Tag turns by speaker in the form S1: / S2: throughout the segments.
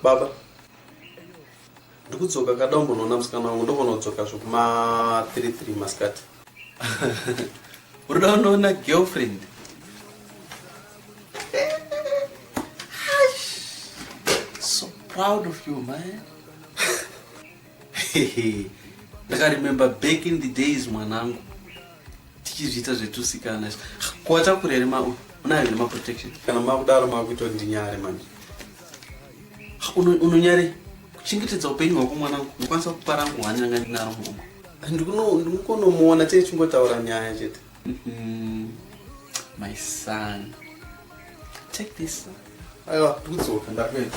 S1: Baba, ndikudzoka kada umbonoona musikana wangu ndogona kudzoka zvekuma 33 masikati. Unoda
S2: unoona girlfriend? so proud of you man. Ndakaremember back in the days mwanangu. tichizviita zvetusikana izvo kuwatakura here ma unayo here maprotection kana makudaro makuita
S1: kuti ndinyare manje
S2: unonyare kuchengetedza upenyu hwako mwanangu ndikwanisa kupa rangu hwani ranga ndinaro mumwe ndikunomuona chee
S1: chingotaura nyaya chete mm-hmm.
S2: my son take this aiwa
S1: ndikudzoka ndakuenda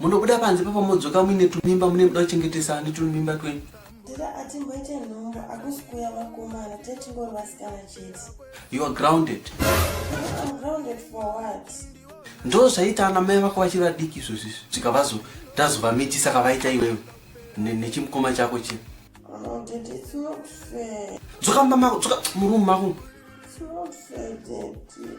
S2: Munobuda panze papa modzoka muine tumimba mune muda kuchengetesa ani tumimba twenyu. Tete atimboite
S3: nhombo akusi kuya vakomana tetingori vasikana chete. You are grounded.
S2: I'm
S3: grounded for what? Ndo zvaita
S2: ana mai vako vachiri vadiki izvozvi svika vazo tazovamitisa kavaita iwewe nechimukoma chako chii. Oh, Dad, it's
S3: not fair.
S2: Dzoka
S3: mumba mako,
S2: dzoka
S3: murumu mako.
S2: It's
S3: not fair, Daddy.